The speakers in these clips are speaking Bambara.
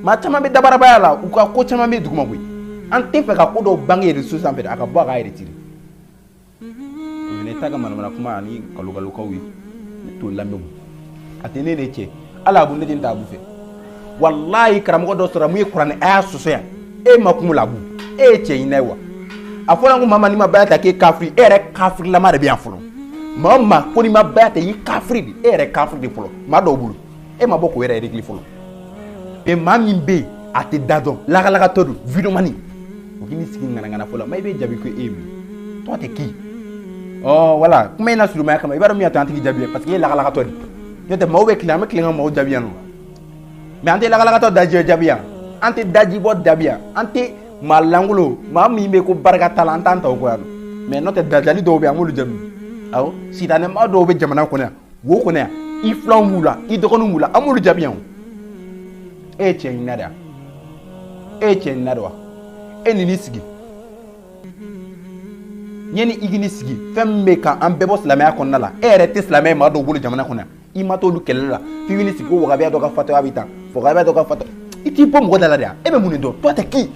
maa caman bɛ dabarabaya la u ka ko caman bɛ duguma koyi an tɛ fɛ ka ko dɔw bange réseau sanfɛ dɛ a ka bɔ a ka retirer o ye ne t'a ka manamana kuma ani kalokalokaw ye ne t'o lamɛn a tɛ ne de cɛ hali abu ne tɛ taa abu fɛ walayi karamɔgɔ dɔ sɔrɔ min ye kuranɛ aya sɔsɔ yan e ma kun la abu e ye cɛ ɲinɛ ye wa a fɔra ko maa maa n'i ma baya ta k'e kafiri e yɛrɛ kafirilama de bɛ yan fɔlɔ maa o maa ko n'i ma baya ta i ye kafiri de e yɛrɛ kafiri de fɔlɔ maa dɔw bolo e ma bɔ k'o yɛrɛ régler fɔlɔ mais maa min bɛ yen a tɛ da dɔn lagalagatɔ don vidéoman o k'i ni sigi ŋanaŋana fɔlɔ ma i bɛ jaabi ko e ye min tɔgɔ tɛ k'i voilà kuma in na surumaya kama i b'a dɔn min y'a to an tɛ k'i jaabi ye parce que i ye lagalagatɔ de n'o tɛ maaw bɛ tilen an bɛ tilen ka maaw jaabi yan nɔ mais an tɛ lagalagatɔ dajɛ jaabi yan an tɛ dajibɔ jaabi yan an tɛ maa lankolon maa min bɛ ko barika t'a la an t'an ta o kɔ yan mais n'o tɛ dajali dɔw bɛ yen an b'olu jaabi awɔ sitanɛma dɔw bɛ jamana kɔnɔ yan wo kɔnɔ yan i filanw b'u la i dɔgɔninw b'u la an b'olu jaabi yan o e ye cɛ ɲinina de wa e ye cɛ ɲinina de wa e ni n'i sigi ɲɛ ni i k'i ni sigi fɛn min bɛ ka an bɛɛ bɔ silamɛya kɔnɔna la e yɛrɛ tɛ silamɛ ye maa dɔw bolo jamana kɔnɔ yan i ma t'olu kɛlɛli la f'i b'i ni sigi ko wahabiya dɔ ka fatɔya bɛ tan wahabiya dɔ ka fatɔ i t'i bɔ mɔgɔ da la de yan e bɛ mun de dɔn toi t'es qui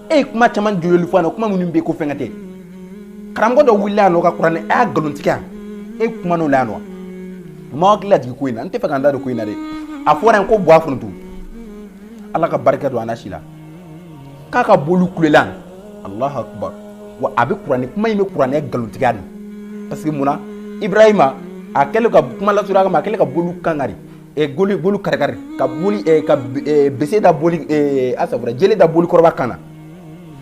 e ye kuma caman jololi fɔ yan nɔ kuma minnu bɛ ko fɛn ka tɛ karamɔgɔ dɔ wulila yan nɔ ka kuranɛ aya nkalontigɛ yan e kuman'o la yan nɔ n b'aw hakili lajigin ko in na n tɛ fɛ ka n da don ko in na dɛ a fɔra yen ko bɔ a foronto ala ka barika don a na si la k'a ka boli kulela alahu akubar wa a bɛ kuranɛ kuma in bɛ kuranɛ nkalontigɛ de parce que munna ibrahima a kɛlen ka kuma lasurunya kama a kɛlen ka boli kan kari boli bolo karikari ka boli ka bese da boli asa jele da boli kɔrɔba kan na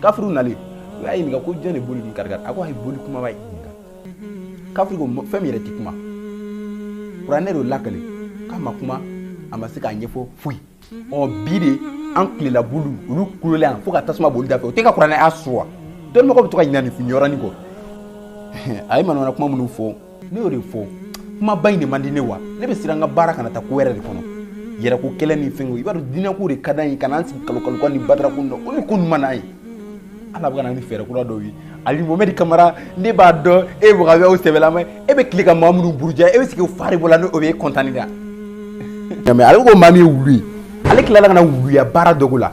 kafiriw nalen u y'a ɲininka ko jɔn de boli ni karikari a ko a ye boli kunbaba ye kafiri ko fɛn min yɛrɛ tɛ kuma kuranɛ de lakali k'a ma kuma a ma se k'a ɲɛfɔ foyi ɔ bi de an tilela boli olu kulola yan fo ka tasuma boli da fɛ o tɛ ka kuranɛ sɔsɔ wa dɔnnibagaw bɛ to ka ɲinɛ nin yɔrɔnin kɔ a ye manamana kuma minnu fɔ ne y'o de fɔ kumaba in de man di ne wa ne bɛ siran n ka baara kana taa ko wɛrɛ de kɔnɔ yɛrɛko kɛlɛ ni fɛnko i b'a dɔn diinɛko de ka d'an ye ka n'an sigi kalokaloka ni batarako dɔ o ni ko ninnu man d'an ye ala bɛ ka na ni fɛɛrɛ kura dɔw ye ali mohamɛdi kamara ne b'a dɔn e ye wahabiyaw sɛbɛlama ye e bɛ tilen ka maa minnu buruja e bɛ sigi fari bɔ la ni o bɛ e kɔntani da nka mais ale ko maa min ye wulu ye ale tilala ka na wuluya baara dɔgo la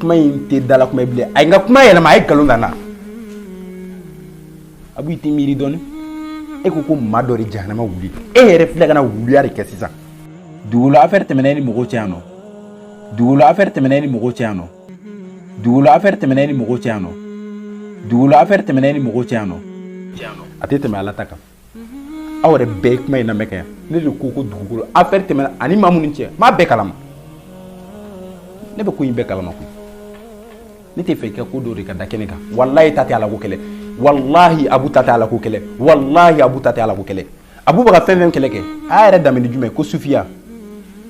kuma in tɛ dala kuma ye bilen a ye n ka kuma yɛlɛma a ye nkalon da n na abu i tɛ miiri dɔɔni e ko ko maa dɔ de jahanama wulu e yɛrɛ filɛ ka na wuluya de kɛ sisan dugukolo afɛri tɛmɛna e ni mɔgɔw cɛ yan nɔ dugukolo afɛri tɛmɛna e ni mɔgɔw cɛ yan nɔ dugukolo afɛri tɛmɛna e ni mɔgɔw cɛ yan nɔ dugukolo afɛri tɛmɛna e ni mɔgɔw cɛ yan nɔ a tɛ tɛmɛ ala ta kan aw yɛrɛ bɛɛ kuma in lamɛn kɛ ne de ko ko dugukolo affaire tɛmɛna ani maa minnu cɛ maa bɛɛ kalama ne bɛ ko in bɛɛ kalama koyi ne tɛ fɛ i ka ko dɔ de ka da kɛnɛ kan walayi ta tɛ ala ko kɛlɛ walahi abu ta tɛ ala ko kɛlɛ walahi abu ta tɛ ala ko kɛlɛ abu bɛ ka fɛn fɛn kɛlɛ kɛ a y'a yɛrɛ damini jumɛn ko sufiya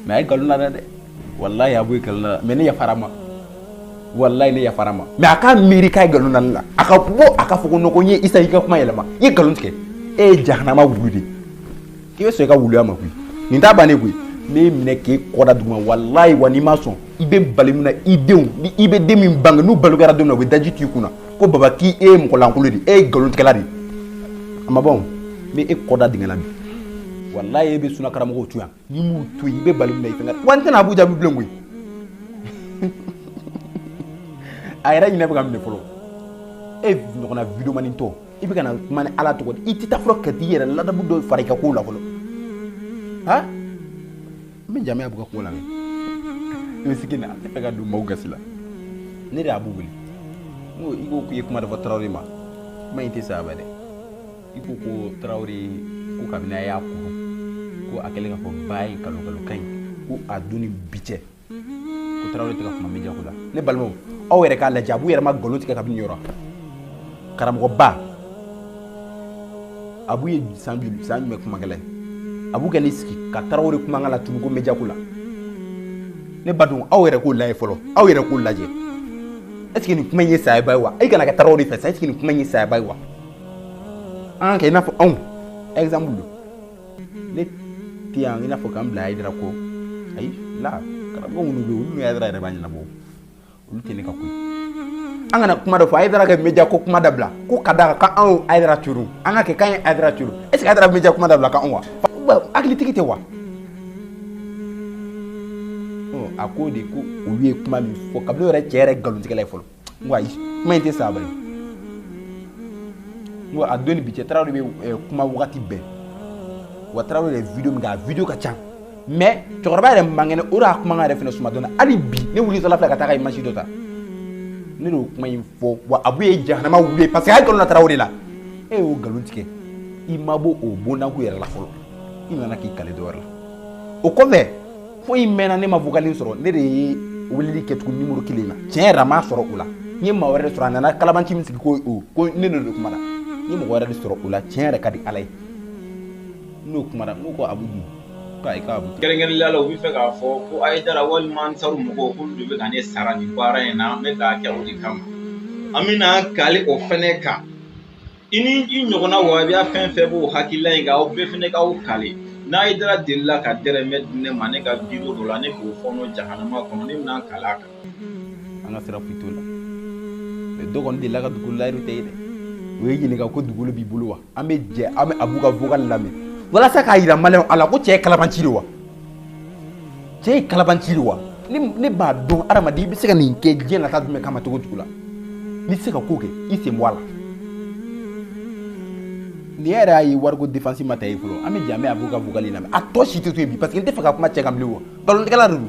mais a ye nkalon na dɛ walayi abu ye nkalon na mais ne yafara ma walayi ne yafara ma mais a ka miiri k'a ye nkalon na ne la a ka bɔ a ka fɔ ko non ko n ye isa i ka kuma yɛlɛma i ye nkalon tigɛ e ye jahanama wulu de k'i bɛ sɔn i ka wuluya ma koyi nin t'a bannen koyi ne y'i minɛ k'e kɔ da duguma walayi wa n'i ma sɔn i bɛ bali min na i denw ni i bɛ den min bange n'u balokɛra don min na u bɛ daji t'i kunna ko baba k'i e ye mɔgɔ lankolon de e ye nkalon tigɛla de a ma ban o ni e kɔ da dingɛ la bi walayi e bɛ sunna karamɔgɔw to yan n'i m'u to yen i bɛ bali min na i fɛnɛ wa n tɛna abu jaabi bilen koyi a yɛrɛ hinɛ bɛ ka n minɛ fɔlɔ e ɲɔgɔnna videomani tɔ i bɛ ka na kuma ni ala tɔgɔ di i tɛ taa fɔlɔ ka t'i yɛrɛ ladamu dɔ fara i ka kow la fɔlɔ ha n bɛ jamaya bɛ ka ko la i bɛ sigi na ne fɛ ka don maaw gasi la ne de ye abu wele n ko i ko k'i ye kuma dɔ fɔ tarawele ma kuma in tɛ sayaba dɛ i ko ko tarawele ko kabini a y'a kuru ko a kɛlen ka fɔ ba ye kalo kalo kan ye ko a don ni bi cɛ ko tarawele tɛ ka kuma media ko la ne balimaw aw yɛrɛ k'a lajɛ abu yɛrɛ ma nkalon tigɛ kabini yɔrɔ karamɔgɔba abu ye san joli san jumɛn kumakɛla ye abu kɛ ne sigi ka tarawele kumakan latunun ko media ko la ne ba dun aw yɛrɛ k'o lajɛ fɔlɔ aw yɛrɛ k'o lajɛ est ce que nin kuma in ye sayaba ye wa e kana kɛ tarawele fɛ sa est ce que nin kuma in ye sayaba ye wa an k'a kɛ i n'a fɔ anw exemple don ne tɛ yan i n'a fɔ k'an bila ayidara kɔ ayi la karamɔgɔ minnu bɛ yen olu ni ayidara yɛrɛ b'a ɲɛnabɔ olu tɛ ne ka ko ye an kana kuma dɔ fɔ ayidara ka media ko kuma dabila ko ka da kan anw ayidara turu an k'a kɛ k'an ye ayidara turu est ce que ayidara media kuma dabila k'anw wa hakilitigi tɛ wa a ko de ko olu ye kuma min fɔ kabila yɛrɛ cɛ yɛrɛ nkalontigɛla ye fɔlɔ ko ayi kuma in tɛ sa bari n ko a don ni bi cɛ tarawele bɛ eh, kuma wagati bɛɛ wa tarawele yɛrɛ video min kɛ a video ka ca mais cɛkɔrɔba yɛrɛ man kɛnɛ o de y'a kumakan yɛrɛ fɛnɛ suma dɔɔnin hali bi ne wulitɔla filɛ ka taa ka image dɔ ta ne y'o kuma in fɔ wa abu ye jahanama wulu ye parce que a ye nkalon na tarawele la e y'o nkalon tigɛ i ma bɔ o bondanko yɛrɛ la fɔlɔ i nana k'i kali dɔ wɛrɛ la o kɔfɛ fo i mɛnna ne ma vocal sɔrɔ ne de ye weleli kɛ tugun nimɔrɔ kelen na tiɲɛ yɛrɛ ma sɔrɔ o la n ye maa wɛrɛ de sɔrɔ a nana kalabanci min sigi ko o ko ne de kuma na n ye mɔgɔ wɛrɛ de sɔrɔ o la tiɲɛ yɛrɛ ka di ala ye n'o kuma na n ko abu dun k'a ye ka abu kɛrɛnkɛrɛnnenya la u bɛ fɛ k'a fɔ ko ayidara walima ansaru mɔgɔw k'olu de bɛ ka ne sara nin baara in na n bɛ k'a kɛ o de kama an bɛna kali o fɛnɛ kan i ni i ɲɔgɔnna wabiya fɛn fɛn b'o hakilila in kan aw bɛɛ fɛnɛ k'aw kale n'ayidara delila ka dɛrɛmɛ di ne ma ne ka biro dɔ la ne k'o fɔɔnɔ jahanama kɔnɔ ne bɛna kale a kan an ka sira foyi t'o la mais dɔ kɔni delila ka dugukolo layiru t'e ye dɛ o y'e ɲininka ko dugukolo b'i bolo wa an bɛ jɛ an bɛ abu ka vocal lamɛn walasa k'a yira maliyɛnw la ko cɛ ye kalabanci de wa cɛ ye kalabanci de wa ne b'a dɔn adamaden i bɛ se ka nin kɛ diɲɛ nata jumɛn kama cogo jugu la n'i tɛ se ka ko kɛ i sen bɔ a la ne yɛrɛ y'a ye wariko défense ma ta i bolo an bɛ jɛ an bɛ abu ka vocal lamɛn a tɔ si tɛ to yen bi parce que n tɛ fɛ ka kuma cɛ kan bilen wa nkalontigɛla de don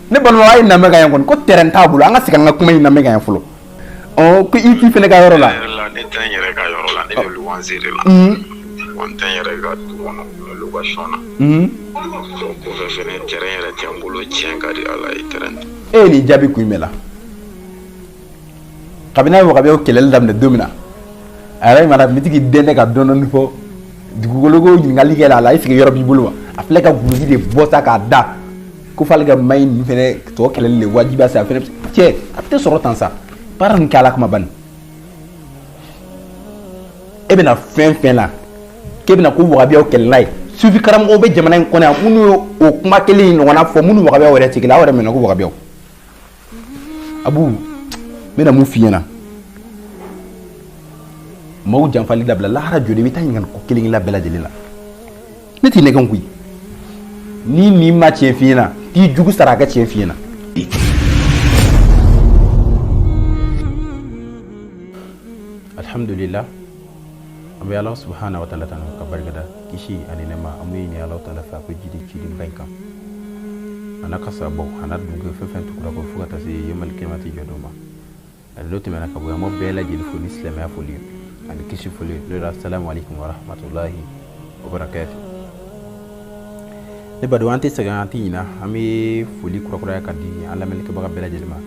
ne balimaw a y'a lamɛn ka yan kɔni ko terrain t'a bolo an ka segin an ka kuma in lamɛn ka yan fɔlɔ ɔ ko i t'i fɛnɛ ka yɔrɔ la ne tɛ n yɛrɛ ka yɔrɔ la ne bɛ luwanse de la wa n tɛ n yɛrɛ ka du kɔnɔ n bɛ location na o kɔfɛ fɛnɛ terrain yɛrɛ tɛ n bolo tiɲɛ ka di ala ye terrain e ye nin jaabi kun jumɛn la kabini a ye wagabiyaw kɛlɛli daminɛ don min na a yɛrɛ mara mitigi den tɛ ka dɔn dɔɔni fɔ dugukolo ko ɲininkali kɛra a la est ce que yɔrɔ b'i bolo wa a filɛ ka guloki de bɔ sa k'a da ko f'ale ka maa ninnu fɛnɛ tɔ kɛlɛli de wajibiya sa a fɛnɛ cɛ a tɛ sɔrɔ tan sa baara nin kɛ ala kama bani e bɛna fɛn fɛn la k'e bɛna ko wagabiyaw kɛlɛla ye sufi karamɔgɔw bɛ jamana in kɔnɔ yan minnu ye o kuma kelen in ɲɔgɔnna fɔ minnu wagabiyaw yɛrɛ tigila aw yɛrɛ mɛnna ko wagabiyaw abu n bɛna mun f'i ɲɛna maaw janfali dabila lahara jɔdon i bɛ taa ɲininka ko kelen kelen bɛɛ lajɛlen la ne t'i nɛgɛn koyi n'i ɲin ma tiɲɛ f'i ɲɛna k'i jugu sara a ka tiɲɛ f'i ɲɛna alhamdulillah an bɛ ala subhanahu wa ta'ala tanu ka barikada kisi ani nɛɛma an bɛ ɲini ala ta'ala fɛ a k'o jigi ciden ba in kan a n'a ka sahabaw a n'a du fɛn fɛn tugura u kɔ fo ka taa se yawmal kiyamati jɔdon ma a n'o tɛmɛna ka bɔ yan an b'aw bɛɛ lajɛlen fo ni silamɛya foli ani kisi foli assalamu alaikum wa rahmatullahi wa barakatuh ne badenw an tɛ sɛgɛn an tɛ ɲina an bɛ foli kurakuraya ka di an lamɛnlikɛbaga bɛɛ lajɛlen ma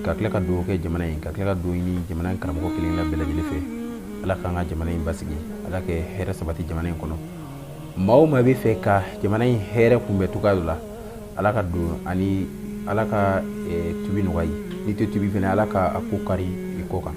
ka tila ka dugawu kɛ jamana in ka tila ka dugawu ɲini jamana in karamɔgɔ kelen kelen bɛɛ lajɛlen fɛ ala k'an ka jamana in basigi ala ka hɛrɛ sabati jamana in kɔnɔ maa o maa bɛ fɛ ka jamana in hɛrɛ kunbɛn cogoya dɔ la ala ka don ani ala ka tubi nɔgɔya i ye n'i tɛ tubi fɛnɛ ala k' a ko kari i kɔ kan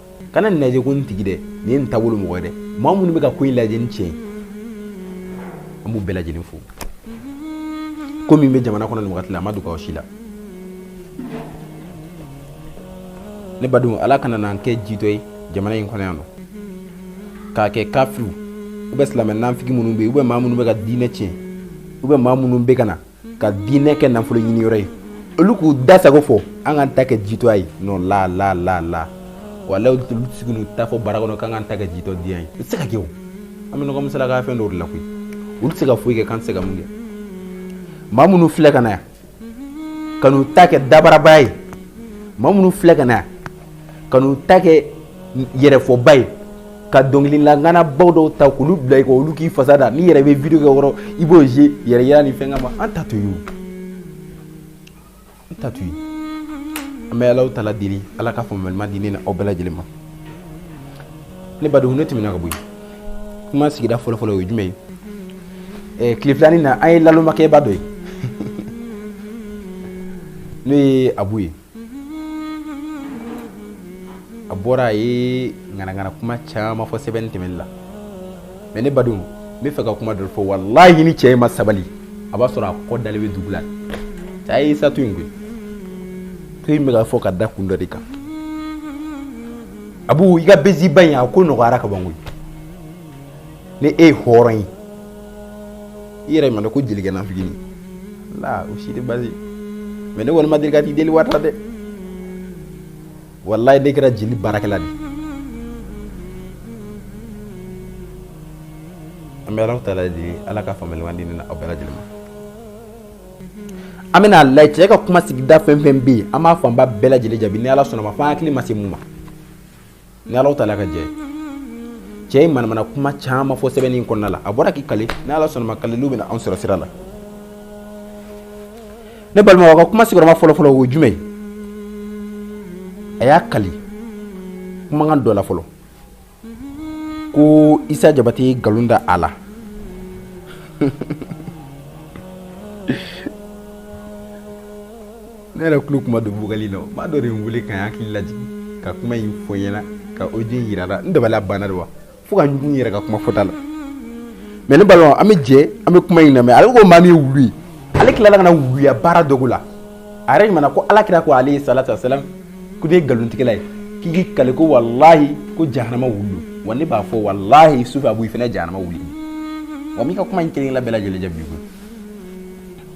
kana nin lajɛ ko nin tigi dɛ nin ye nin taabolo mɔgɔ ye dɛ maa minnu bɛ ka ko in lajɛ ni tiɲɛ ye an b'u bɛɛ lajɛlen fo ko min bɛ jamana kɔnɔ nin wagati la a ma dogo aw si la ne badenw ala kana n'an kɛ jitɔ ye jamana in kɔnɔ yan nɔ k'a kɛ kafiriw ou bien silamɛ nafigi minnu bɛ yen ou bien maa minnu bɛ ka diinɛ tiɲɛ ou bien maa minnu bɛ ka na ka diinɛ kɛ nafolo ɲini yɔrɔ ye olu k'u da sago fɔ an k'an ta kɛ jitɔya ye non la la la la walahi olu tɛ se ka n'u ta fɔ bara kɔnɔ k'an k'an ta kɛ jitɔ diya ye o tɛ se ka kɛ o an bɛ ɲɔgɔn misala k'a fɛn dɔw de la koyi olu tɛ se ka foyi kɛ k'an tɛ se ka mun kɛ maa minnu filɛ ka na yan ka n'u ta kɛ dabarabaya ye maa minnu filɛ ka na yan ka n'u ta kɛ yɛrɛfɔba ye ka dɔnkilila ŋanabaw dɔw ta k'olu bila yen olu k'i fasa da n'i yɛrɛ bɛ video kɛ yɔrɔ i b'o ze yɛrɛya ni fɛn ma an ta t'o ye an ta t'o ye an bɛ ala taala deli ala ka faamuyali ɲuman di ne ni aw bɛɛ lajɛlen ma ne badenw n'i tɛmɛna ka bɔ yen kuma sigida fɔlɔfɔlɔ o ye jumɛn ye tile filanin na an ye nalomakɛba dɔ ye n'o ye abu ye a bɔra a ye ŋanaŋana kuma caman fɔ sɛbɛ tɛ minnu na mais ne badenw n bɛ fɛ ka kuma dɔ fɔ walahi ni cɛ in ma sabali a b'a sɔrɔ a kɔ dalen bɛ dugu la cɛ a ye isa to yen koyi to in bɛ ka fɔ ka da kun dɔ de kan abu i ka besiba in a ko nɔgɔyara ka ban koyi ni e ye hɔrɔn ye i yɛrɛ ma dɔn ko jelikɛ nafigini la o si tɛ basi mais ne kɔni ma deli ka t'i deli wari la dɛ walayi ne kɛra jeli baarakɛla de an bɛ ala taala deli ala ka faamuyali ɲuman di ne na aw bɛɛ lajɛlen ma an bɛna a lajɛ cɛ ka kuma sigida fɛn fɛn bɛ yen an b'a fanba bɛɛ lajɛlen jaabi ni ala sɔnna ma fo an hakili ma se mun ma ni alahu taala ka jɛ cɛ ye manamana kuma caman fɔ sɛbɛnni in kɔnɔna la a bɔra k'i kali ni ala sɔnna ma kaliliw bɛna anw sɔrɔ sira la ne balimaw ka kuma sigiyɔrɔma fɔlɔfɔlɔ o jumɛn a y'a kali kumakan dɔ la fɔlɔ ko isa jabate ye nkalon da a la ne yɛrɛ tulo kuma don bugli la maa dɔ de ye n weele ka n hakili lajigin ka kuma in fɔ n ɲɛna ka audio in jira n na n dabali banna de wa fo ka ɲugun n yɛrɛ ka kuma fɔta la mais ne balimaw an bɛ jɛ an bɛ kuma in lamɛn ale ko maa min ye wulu ye ale tilala ka na wuluya baara dogo la a yɛrɛ ɲuman ko ala kira ko alayhi salatu wa salam ko ne ye nkalontigɛla ye k'i kali ko walahi ko jahanama wulu wa ne b'a fɔ walahi sufi abu fana jahanama wulu wa n b'i ka kuma in kelenna bɛɛ lajɛlen jaabi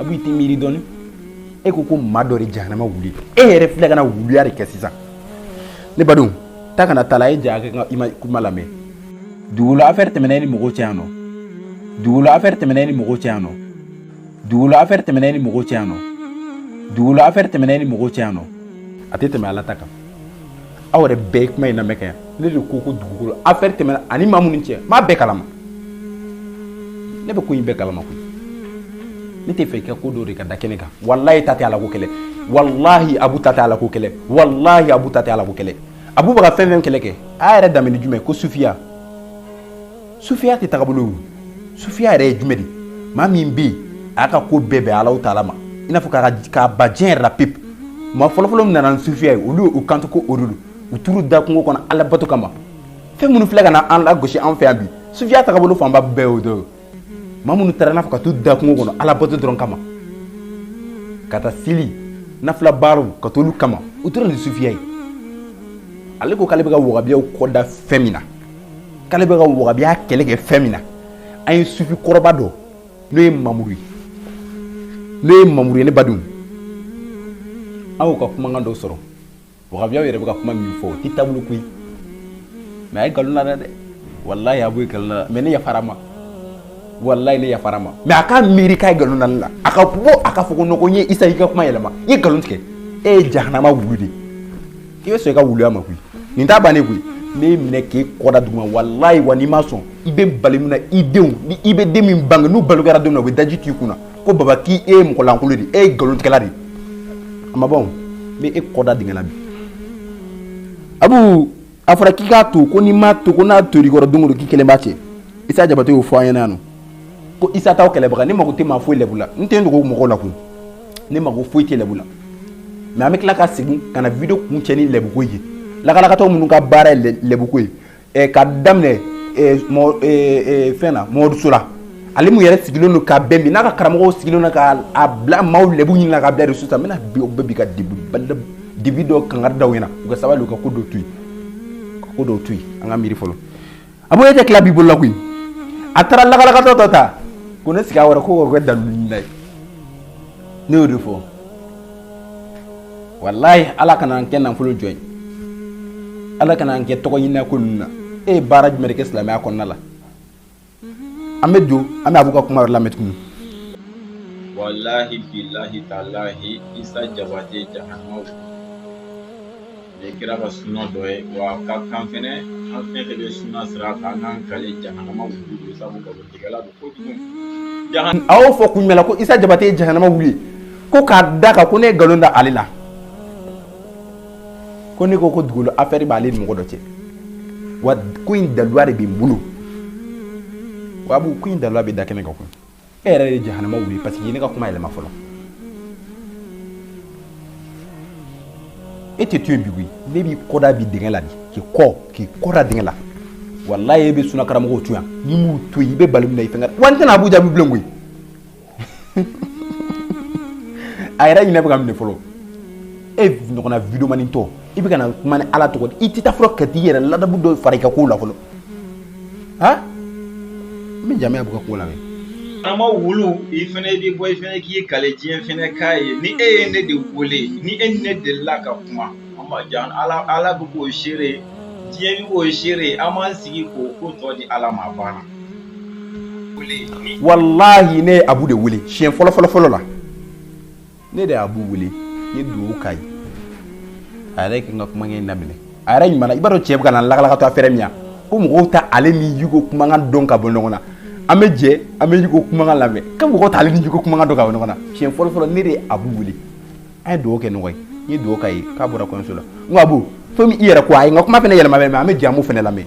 abu i tɛ miiri dɔɔni e ko ko maa dɔ de jahanama wulu e yɛrɛ filɛ ka na wuluya de kɛ sisan ne badenw ta kana taa la e ja kɛ i ma kuma lamɛn dugukolo affaire tɛmɛna e ni mɔgɔw cɛ yan nɔ dugukolo affaire tɛmɛna e ni mɔgɔw cɛ yan nɔ dugukolo affaire tɛmɛna e ni mɔgɔw cɛ yan nɔ dugukolo affaire tɛmɛna e ni mɔgɔw cɛ yan nɔ a tɛ tɛmɛ ala ta kan aw yɛrɛ bɛɛ ye kuma in lamɛn kɛ ne de ko ko dugukolo affaire tɛmɛna a ni maa minnu cɛ maa bɛɛ kalama ne bɛ ko in bɛɛ kalama koyi ne t'a fɛ i ka ko dɔw de ka da kɛnɛ kan walayi ta tɛ ala ko kɛlɛ walahi abu ta tɛ ala ko kɛlɛ walahi abu ta tɛ ala ko kɛlɛ abu bɛ ka fɛn fɛn kɛlɛ kɛ a yɛrɛ daminɛ jumɛn ko sufiya sufiya tɛ tagabolo ye sufiya yɛrɛ ye jumɛn de maa min bɛ yen a y'a ka ko bɛɛ bɛn alahu taala ma i n'a fɔ ka ban diɲɛ yɛrɛ la pewu maa fɔlɔfɔlɔ min nana ni sufiya ye olu y'u kanto ko o de don u taar'u da kungo kɔnɔ ala bato kama fɛn minnu filɛ ka na an lagosi an fɛ yan bi sufiya tagabolo fanba bɛɛ y'o dɔ ye maa minnu taara n'a fɔ ka t'u da kungo kɔnɔ ala bato dɔrɔn kama ka taa seli nafila baaraw ka t'olu kama u tora ni sufiya ye ale ko k'ale bɛ ka wagabiyaw kɔ da fɛn min na k'ale bɛ ka wagabiya kɛlɛ kɛ fɛn min na an ye sufi kɔrɔba dɔ n'o ye mamuru ye n'o ye mamuru ye ne badenw an y'o ka kumakan dɔ sɔrɔ wagabiyaw yɛrɛ bɛ ka kuma min fɔ o tɛ taabolo koyi mais a ye nkalon la dɛ walayi a b'o ye nkalon la mais ne yafara a ma walayi ne yafara a ma mais a ka miiri k'a ye nkalon da ne la a ka bɔ a ka fɔ ko non ko n ye isa i ka kuma yɛlɛma i ye nkalon tigɛ e ye jahanama wulu de ye i bɛ sɔn i ka wuluya ma koyi nin t'a bannen koyi n b'i minɛ k'e kɔ da duguma walayi wa n'i ma sɔn i bɛ bali min na i denw ni i bɛ den min bange n'u balo kɛra don min na u bɛ daji tu i kunna ko baba k'i e ye mɔgɔ lankolon de ye e ye nkalontigɛla de ye a ma ban o n bɛ e kɔ da dingɛ la bi abu a fɔra k'i k'a to ko n'i m'a to ko n'a tor'i kɔrɔ don o don k'i kelen b'a cɛ isa jabate y'o fɔ an ɲɛna yan nɔ ko isa t'aw kɛlɛbaga ne mago tɛ maa foyi lɛbu la n tɛ n dogo mɔgɔw la koyi ne mago foyi tɛ lɛbu la mais an bɛ tila ka segin ka na video kun cɛ ni lɛbuko ye lakalakatɔw minnu ka baara ye lɛbuko ye eh, ka daminɛ eh, eh, fɛn na mɔmɔdu sola ale min yɛrɛ sigilen don ka bɛn bi n'a ka karamɔgɔw sigilen don ka a bila maaw lɛbu ɲini na ka bila réseau sanfɛ n bɛna bi o bɛɛ bi ka dibi dɔ kangari da u ɲɛna u ka sabali u ka ko dɔ to yen ka ko dɔw to yen an ka miiri fɔlɔ a b'o e tɛ tila b'i bolo la koyi a taara lakalakatɔ dɔ ta ko ne sigi a wɛrɛ ko kɛ daliluntan ye ne y'o de fɔ walayi ala kana n kɛ nafolo jɔn ye ala kana n kɛ tɔgɔ ɲinina ko ninnu na e ye baara jumɛn de kɛ silamɛya kɔnɔna la an bɛ don an bɛ abu ka kuma yɔrɔ lamɛn tuguni walahi bilahi talahi isa jabate jahanaw Ni kira ka suna dɔ ye wa a ka kan fɛnɛ an fɛn fɛn bɛ suna sira kan an k'an k'ale jahanama wulu de sabu nkalontigɛla don kojugu jahan a y'o fɔ kun jumɛn la ko isa jabate ye jahanama wulu ye ko k'a da kan ko ne ye nkalon da ale la ko ne ko ko dugukolo affaire b'ale ni mɔgɔ dɔ cɛ wa ko in daluya de bɛ n bolo wa abu ko in daluya bɛ da kɛnɛ kan koyi e yɛrɛ ye jahanama wuli parce que ne ka kuma yɛlɛma fɔlɔ e tɛ to yen bi koyi ne b'i kɔda bi dingɛ la bi k'i kɔ k'i kɔda dingɛ la walayi e bɛ sunna karamɔgɔw to yan n'i m'u to yen i bɛ bali min na i fɛnkɛ wa n tɛna abu jaabi bilen koyi a yɛrɛ hinɛ bɛ ka n minɛ fɔlɔ e ɲɔgɔnna videomanitɔ i bɛ ka na kuma ni ala tɔgɔ di i tɛ taa fɔlɔ ka t'i yɛrɛ ladabu dɔ fara i ka kow la fɔlɔ N bɛ jaabi abu ka ko la ama wulu i fana de bɔ i fana k'i kale diɲɛ fana k'a ye ni e ye ne de weele ni e ni ne delila ka kuma an ma jan ala ala bɛ k'o seere diɲɛ bɛ k'o seere an b'an sigi k'o ko tɔ di ala ma banna walayi ne ye abu de wele siɲɛ fɔlɔ fɔlɔ fɔlɔ la ne de ye abu wele n ye dugawu k'a ye a yɛrɛ ka n ka kumakan in daminɛ a yɛrɛ ɲuman i b'a dɔn cɛ bɛ ka na lakalakatɔ affaire min yan ko mɔgɔw t'ale ni yugo kumakan dɔn ka bɔ ɲɔgɔn na an bɛ jɛ an bɛ yugo kumakan lamɛn ko mɔgɔw t'ale ni yugo kumakan dɔn ka bɔ ɲɔgɔn na siɲɛ fɔlɔ fɔlɔ ne de ye abu wele an ye dugawu kɛ ɲɔgɔn ye n ye dugawu k'a ye k'a bɔra kɔɲɔso la n ko abu fo i yɛrɛ ko a ye n ka kuma fana yɛlɛma mɛ an bɛ jɛ an b'o fana lamɛn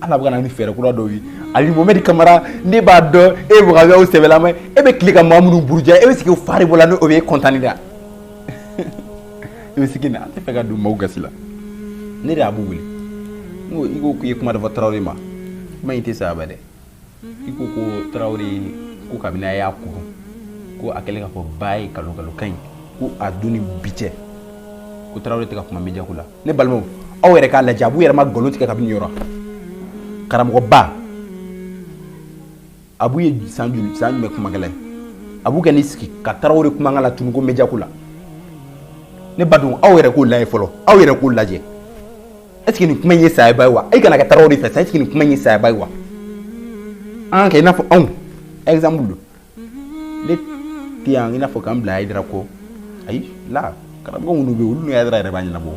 ala bɛ ka na ni fɛɛrɛ kura dɔw ye ali mohamɛdi kamara ne b'a dɔn e b'a kɛ sɛbɛlama e bɛ tile ka maa minnu buruja e bɛ sigi fari bɔ la n'o bɛ e kɔntan da i bɛ sigi na an t'a fɛ ka don maaw gasi la ne de ye abu wele n ko i ko k'i ye kuma dɔ fɔ tarawele ma kuma in tɛ saba dɛ i ko ko tarawele ko kabini a y'a kuru ko a kɛlen k'a fɔ ba ye kalo kalo ka ɲi ko a don ni bi cɛ ko tarawele tɛ ka kuma media ko la ne balimaw aw yɛrɛ k'a lajɛ abu yɛrɛ ma nkalon tigɛ kabini yɔrɔ karamɔgɔba abu ye san joli san jumɛn kumakɛla ye abu kɛ n'i sigi ka tarawele kumakan latunu ko media ko la ne ba dun aw yɛrɛ k'o lajɛ fɔlɔ aw yɛrɛ k'o lajɛ est-ce que nin kuma in ye sayaba ye wa e kana kɛ tarawele fɛ sa est-ce que nin kuma in ye sayaba ye wa an k'a kɛ i n'a fɔ anw exemple don ne tɛ yan i n'a fɔ k'an bila ayidara kɔ ayi la karamɔgɔ minnu bɛ yen olu ni ayidara yɛrɛ b'a ɲɛnabɔ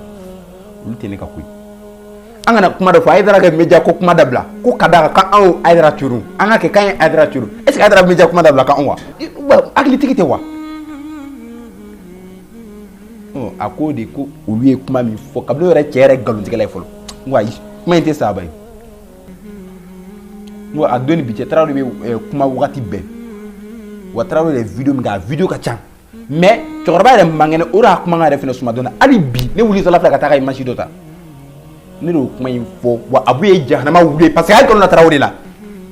olu tɛ ne ka ko ye an ka na kuma dɔ fɔ ayidara ka media ko kuma dabila ko ka d'a kan k'anw ayidara turu an ka kɛ k'an ye ayidara turu est-ce que ayidara bɛ media kuma dabila k'anw wa hakilitigi tɛ wa a ko de ko olu ye kuma min fɔ kabini yɛrɛ cɛ yɛrɛ nkalontigɛla ye fɔlɔ n ko ayi kuma in tɛ saba ye N ko a don ni bi cɛ tarawele de bɛ eh, kuma wagati bɛɛ wa tarawele de ye video min kɛ a video ka ca mais cɛkɔrɔba yɛrɛ man kɛnɛ o de y'a kuma yɛrɛ fana suma dɔɔni hali bi ne wulitɔla filɛ ka taa ka image dɔ ta ne de y'o kuma in fɔ wa abu ye jahanama wuli parce que a ye nkalon da tarawele la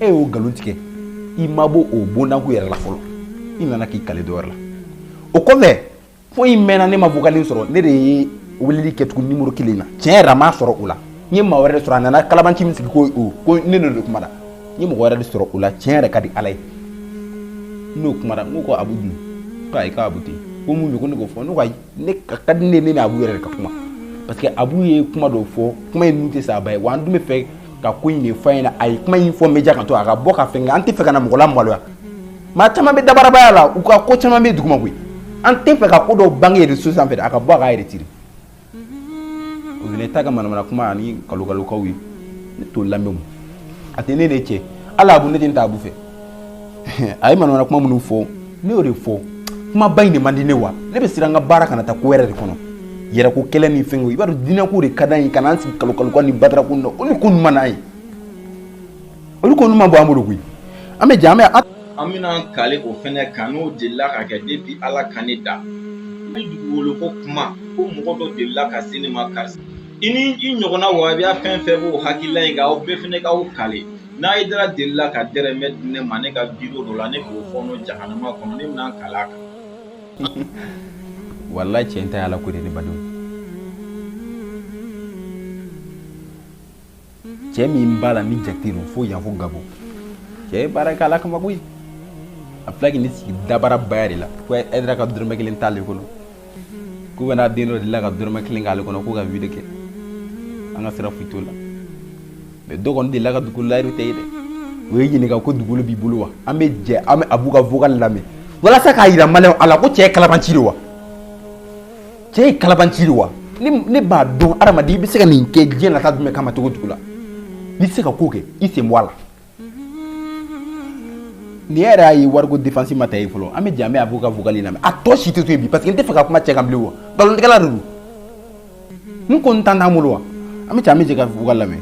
e y'o nkalon tigɛ i ma bɔ o bondanko yɛrɛ la fɔlɔ i nana k'i kale dɔ wɛrɛ la o kɔfɛ fo in mɛnna ne ma vocal in sɔrɔ ne de ye weleli kɛ tugun nimoro kelen na tiɲɛ yɛrɛ ma sɔrɔ o la n ye maa wɛrɛ de sɔrɔ a nana kalabanci min sigi ko o ko ne n'o de kumara n ye mɔgɔ wɛrɛ de sɔrɔ o la tiɲɛ yɛrɛ ka di ala ye n'o kumara n ko ko abu dun ko ayi ko abu tɛ ko mun don ko ne k'o fɔ ne ko ayi ne ka ka di ne ye ne ni abu yɛrɛ de ka kuma parce que abu ye kuma dɔ fɔ kuma in dun tɛ sa a ba ye wa an dun bɛ fɛ ka ko in de fɔ a ɲɛna a ye kuma in fɔ media kan to a ka bɔ ka fɛn kɛ an tɛ fɛ ka na mɔgɔ la maloya maa caman bɛ dabarabaya la u ka ko caman bɛ duguma koyi an tɛ fɛ ka ko dɔw bange réseaux sanfɛ a ka bɔ ka retire o ne t'a ka manamana kuma ani kalokalukaw ye ne t'o lamɛn a tɛ ne de cɛ ala abu ne tɛ taa abu fɛ a ye manamana kuma minnu fɔ ne y'o de fɔ kuma ba in de man di ne wa ne bɛ siran an ka baara kana taa ko wɛrɛ de kɔnɔ yɛrɛko kɛlɛ ni fɛn i b'a dɔn diinɛko de ka d'an ye ka n'an sigi kalokaluka ni badarako na o ni ko ɲuman n'a ye olu ko ma bɔ an bolo koyi an bɛ jɛ an bɛ an bɛna kale o fɛnɛ kan n'o delila ka kɛ depuis ala ka ne da ni dugukolo ko kuma ko mɔgɔ dɔ delila ka se ne ma karisa i ni i ɲɔgɔnna wabiya fɛn fɛn b'o hakilila in kan aw bɛɛ fɛnɛ k'aw kale n'aidara delila ka dɛrɛmɛ di ne ma ne ka video dɔ la ne k'o fɔɔnɔ jahanama kɔnɔ ne bɛna kale a kan walayi cɛ in ta ye ala ko de ne badenw cɛ min b'a la ni jate don fo yan fo gabon cɛ ye baara kɛ ala kama koyi a filɛ k'i ni sigi dabarabaya de la ko aidara ka dɔrɔmɛ kelen t'ale kɔnɔ k'u bɛna den dɔ delila ka dɔrɔmɛ kelen k'ale kɔnɔ k'u ka video kɛ an ka sira foyi t'o la mais dɔ kɔni delila ka dugukolo layiru tɛ ye dɛ o ye ɲininka ko dugukolo b'i bolo wa an bɛ jɛ an bɛ abu ka vocal lamɛn walasa k'a jira maliyɛnw la ko cɛ ye kalabanci de wa cɛ ye kalabanci de wa ne b'a dɔn adamaden i bɛ se ka nin kɛ diɲɛ nata jumɛn kama cogo cogo la n'i tɛ se ka ko kɛ i sen bɔ a la nin yɛrɛ y'a ye wariko défense ma ta ye fɔlɔ an bɛ jɛ an bɛ abu ka vocal lamɛn a tɔ si tɛ to yen bi parce que n tɛ fɛ ka kuma cɛ kan bilen wa nkalontigɛla de don n ko n temps t'an bolo wa an bɛ jɛ an bɛ jɛ ka vocal lamɛn.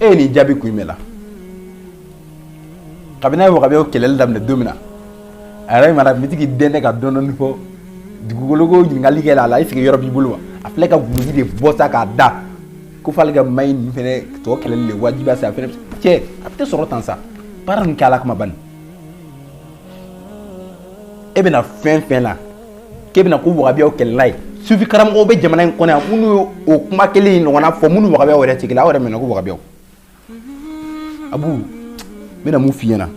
E ye nin jaabi kun jumɛn la kabini a ye wagabiyaw kɛlɛli daminɛ don min na a yɛrɛ mara bitigi den ne ka dɔɔnin fɔ dugukolo ko ɲininkali kɛ a la i sigi yɔrɔ b'i bolo wa a filɛ ka dulɔki de bɔ sa k'a da ko f'ale ka maa in tɔ kɛlɛli de wajibi sa a fɛ cɛ a bɛ sɔrɔ tan sa baara nin kɛ ala kama bani e bɛna fɛn fɛn la k'e bɛna ko wagabiyaw kɛlɛla ye sufi karamɔgɔw bɛ jamana in kɔnɔ yan minnu ye o kuma kelen in ɲɔgɔnna fɔ minnu wagabiyaw yɛrɛ tigila aw yɛrɛ minɛ ko wagabiyaw abu n bɛna mun f'i ɲɛna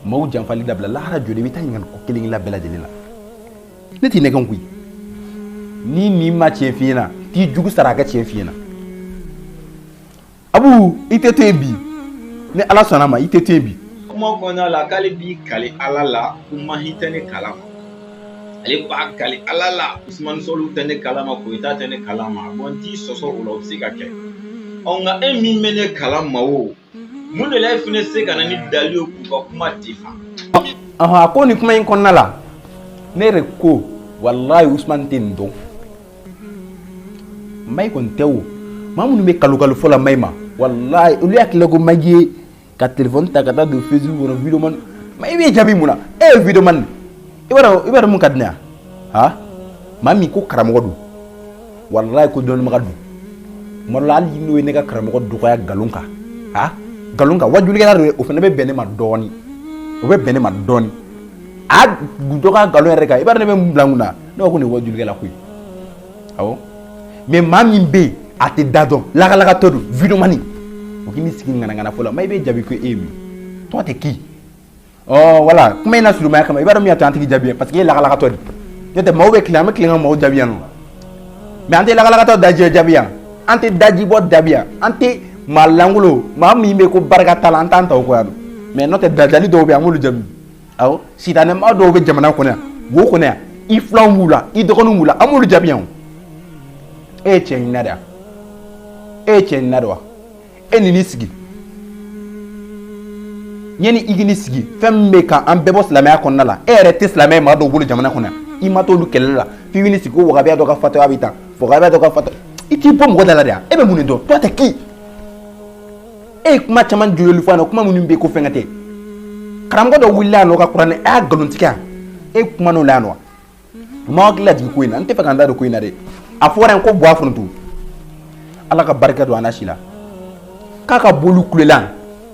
maaw janfali dabila lahara jɔli i bɛ taa ɲininka ko kelen kelen bɛɛ lajɛlen la ne t'i nɛgɛn koyi ni nin ma tiɲɛ f'i ɲɛna t'i jugu sara a ka tiɲɛ f'i ɲɛna abu i tɛ to bi ni ala sɔnna ma i tɛ to bi kuma kɔnɔna la k'ale b'i kali ala la ko mahi tɛ ne kala ma ale b'a kali ala la usmani sɔli tɛ ne kala ma koyita tɛ ne kala ma bon n t'i sɔsɔ o la o bɛ se ka kɛ ɔ nka e min bɛ ne kala ma o mun de la e fana se ka na ni dali ye k'u ka kuma dafa a ko nin kuma in kɔnɔna la ne yɛrɛ ko walayi usumani tɛ nin dɔn Mahi kɔni tɛ o maa minnu bɛ kalo kalo fɔ la Mahi ma walayi olu hakili la ko Mahi ye ka téléphone ta ka taa don Facebook kɔnɔ video man Mahi b'i jaabi mun na e ye video man i b'a dɔn i b'a dɔn mun ka di ne ye han maa min ko karamɔgɔ don walayi ko dɔnnibaga don tuma dɔ la hali n'o ye ne ka karamɔgɔ dɔgɔya nkalon kan han nkalon kan wajulikɛla don o fana bɛ bɛn ne ma dɔɔnin o bɛ bɛn ne ma dɔɔnin a dɔgɔya nkalon yɛrɛ kan i b'a dɔn ne bɛ mun bila n kun na ne ko nin ye wajulikɛla ko ye awɔ mais maa min bɛ yen a t'a da dɔn lakalakatɔ don video man o k'i ni sigi ŋanaŋana fɔ la Mahi bɛ jaabi ko e ye min tɔgɔ tɛ k'i ɔ wala kuma in lasurunya kama i b'a dɔn min y'a to an tɛ k'i jaabi parce que e ye lakalakatɔ de n'o tɛ maaw bɛ tilen an bɛ tilen ka maaw jaabi yan nɔ mais an tɛ lakalakatɔ daji jaabi yan an tɛ dajibɔ jaabi yan an tɛ maa lankolon maa min bɛ ko barika t'a la an t'an ta o kɔ yan nɔ mais n'o tɛ dajali dɔw bɛ yen an b'olu jaabi sitanɛ maa dɔw bɛ jamana kɔnɔ wo kɔnɔ i filanw b'u la i dɔgɔninw b'u la an b'olu jaabi yan e ye cɛ ɲinina de wa e ye cɛ ɲinina de wa e n'i ni sigi yanni i k'i ni sigi fɛn min bɛ ka an bɛɛ bɔ silamɛya kɔnɔna la e yɛrɛ tɛ silamɛ ye maa dɔw bolo jamana kɔnɔ yan i ma t'olu kɛlɛ la f'i b'i ni sigi ko wahabiya dɔ ka fatɔya bɛ tan wahabiya dɔ ka fatɔ i t'i bɔ mɔgɔ da la de yan e bɛ mun de dɔn toi t'es qui e ye kuma caman joli fɔ a na kuma minnu bɛ ko fɛnkɛ tɛ karamɔgɔ dɔ wulila yan nɔ ka kuranɛ a y'a nkalontigɛ e kumana o la yan nɔ maa hakili lajigin ko in na n tɛ fɛ ka n da don ko in na dɛ a fɔra yen ko bɔ a foronto ala ka barika don a na si la k'a ka boliw kulola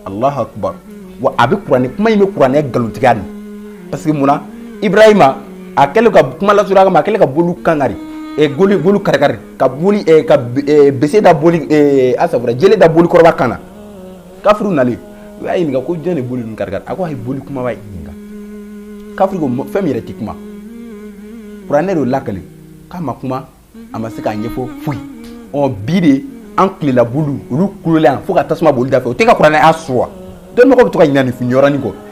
alahu akubar wa a bɛ kuranɛ kuma in bɛ kuranɛ nkalontigiya de parce que mun na ibrahima a kɛlen ka kuma lasurunya kama a kɛlen ka boliw kan kari e boliw boliw karikari ka boli eh, ka eh, bese da boli eh, asafura jele da boli kɔrɔba kan na kafiriw nalen u y'a ɲininka ko jɔn de boli ninnu karikari a ko a ye boli kunbaba ɲininka kafiri ko fɛn min yɛrɛ tɛ kuma kuranɛ de lakali k'a ma kuma a ma se k'a ɲɛfɔ foyi ɔ bi de an tilela boliw olu kulola yan fo ka tasuma boli da fɛ o tɛ ka kuranɛ sɔsɔ dɔnnibagaw bɛ to ka ɲinɛ nin yɔrɔnin kɔ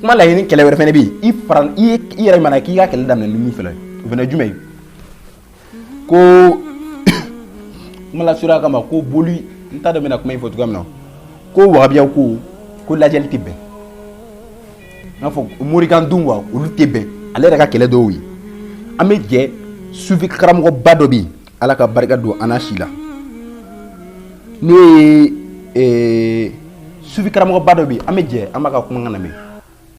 kuma laɲini kɛlɛ wɛrɛ fana bɛ yen i fara i ye i yɛrɛ mana k'i ka kɛlɛ daminɛ ni min fana o fana jumɛn ye ko kuma lasurunya kama ko boli n t'a dɔn n bɛna kuma in fɔ cogoya min na ko wahabiyaw ko ko lajɛli tɛ bɛn n'a fɔ morikan dun wa olu tɛ bɛn ale yɛrɛ ka kɛlɛ dɔw ye an bɛ jɛ sufi karamɔgɔba dɔ bɛ yen ala ka barika don an si la n'o ye sufi karamɔgɔba dɔ bi an bɛ jɛ an b'a ka kumakan lamɛn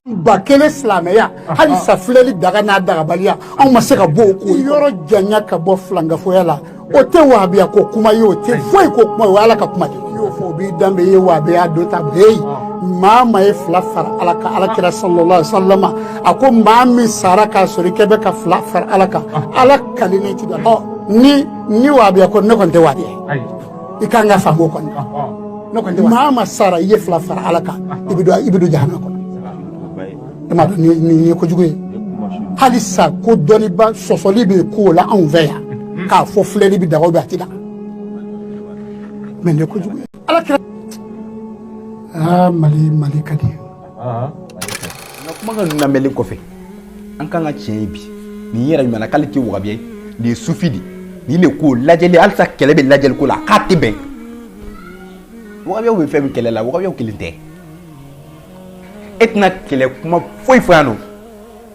ba kelen silamɛya hali sa filɛli daga n'a dagabaliya anw ma se ka bɔ o ko yɔrɔ janya ka bɔ filankafoya la o tɛ wahabiya ko kuma ye o tɛ foyi ko kuma o ye ala ka kuma de y'o fɔ o b'i danbe ye wahabiya dɔ ta bɛɛ ye maa ma ye fila fara ala kan ala kira sallallahu alaihi wasallam a ko maa min sara k'a sɔrɔ i kɛ bɛ ka fila fara ala kan ala ka ne ti dɔn ni ni wahabiya ko ne kɔni tɛ wahabiya i ka kan k'a faamu kɔni ne kɔni maa ma sara i ye fila fara ala kan i bɛ i bɛ don jahanama kɔnɔ e m'a dɔn nin ye kojugu ye hali sa ko dɔnniba sɔsɔli bɛ k'o la anw fɛ yan k'a fɔ filɛli bɛ daga bɛ a ti daga mɛ nin ye kojugu ye ala kira aa mali mali ka di ye nka kumakan ninnu lamɛnlen kɔfɛ an kan ka tiɲɛ ye bi nin yɛrɛ kumana k'ale tɛ wagabiya ye nin ye sufi de nin de ko lajɛli hali sa kɛlɛ bɛ lajɛli ko la k'a tɛ bɛn wagabiyaw bɛ fɛn min kɛlɛ la wagabiyaw kelen tɛ e tɛna kɛlɛ kuma foyi fɔ yan nɔ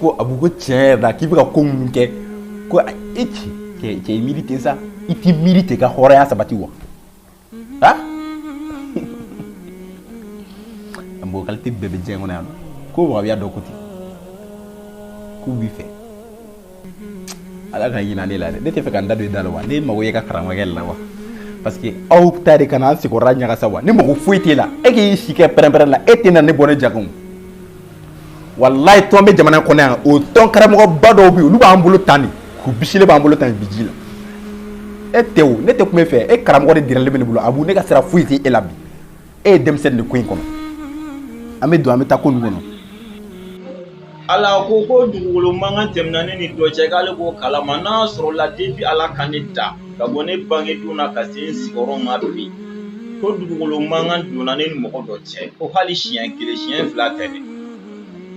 ko abu ko tiɲɛ yɛrɛ la k'i bɛ ka ko minnu kɛ ko e ci cɛ cɛ i miiri ten sa i t'i miiri ten ka hɔrɔnya sabati wa ha mɔgɔ kalite bɛɛ bɛ diɲɛ kɔnɔ yan ko wagabiya dɔ ko ten k'u b'i fɛ ala ka hinɛ ne la dɛ ne tɛ fɛ ka n da don i da la wa ne mago y'e ka karamɔgɔkɛ la wa parce que aw ta de ka na an sigiyɔrɔ ɲagasa wa ne mago foyi t'e la e k'i si kɛ pɛrɛnpɛrɛn la e tɛna ne bɔ ne jago walayi tɔn bɛ jamana kɔnɔ yan o tɔn karamɔgɔba dɔw bɛ yen olu b'an bolo tan de k'u bisile b'an bolo tan bi ji la e tɛ o ne tɛ kuma e fɛ e karamɔgɔ de dirɛlen bɛ ne bolo abu ne ka sira foyi tɛ e la bi e ye denmisɛnnin de ko in kɔnɔ an bɛ don an bɛ taa ko ninnu kɔnɔ ala ko ko dugukolo mankan tɛmɛna ne ni dɔ cɛ k'ale b'o kalama n'a sɔrɔla depuis ala ka ne da ka bɔ ne bange don na ka se n sigiyɔrɔ ma bi ko dugukolo mankan donna ne ni mɔgɔ dɔ cɛ cɛ ko hali siɲɛ kelen siɲɛ fila tɛ dɛ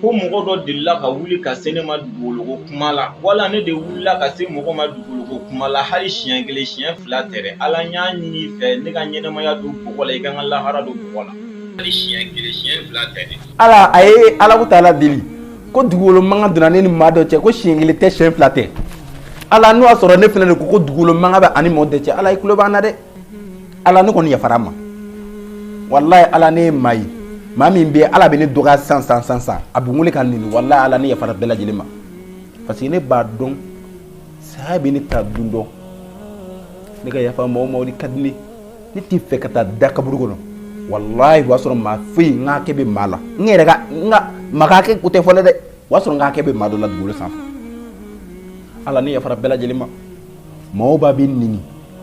ko mɔgɔ dɔ delila ka wuli ka se ne ma dugukolo ko kuma la wala ne de wulila ka se mɔgɔ ma dugukolo ko kuma la hali siɲɛ kelen siɲɛ fila tɛ dɛ ala n y'a ɲini i fɛ ne ka ɲɛnɛmaya don bɔgɔ la i ka n ka lahara don bɔgɔ la hali siɲɛ kelen siɲɛ fila tɛ dɛ ala a ye alahu taala deli ko dugukolo mankan donna ne ni maa dɔ cɛ ko siɲɛ kelen tɛ siɲɛ fila tɛ ala n'o y'a sɔrɔ ne fana de ko ko dugukolo mankan bɛ a ni mɔɔ dɔ cɛ ala i tulo b'an na dɛ ala ne kɔni yafara ma walayi ala ne ma ye maa min bɛ ala bɛ ne dɔgɔya san san san san a bɛ wele ka nɛni walayi ala ne yafara bɛɛ lajɛlen ma parce que ne b'a dɔn saya bɛ ne ta don dɔ ne ka yafa mɔgɔw ma ka di ne ne t'a fɛ ka taa da kaburu kɔnɔ walayi o y'a sɔrɔ maa foyi n ka hakɛ bɛ maa la n yɛrɛ ka n ka maa ka hakɛ ko tɛ fɔlɔ dɛ o y'a sɔrɔ n ka hakɛ bɛ maa dɔ la dugukolo sanfɛ ala ne yafara bɛɛ lajɛlen ma mɔgɔw b'a bɛ nɛni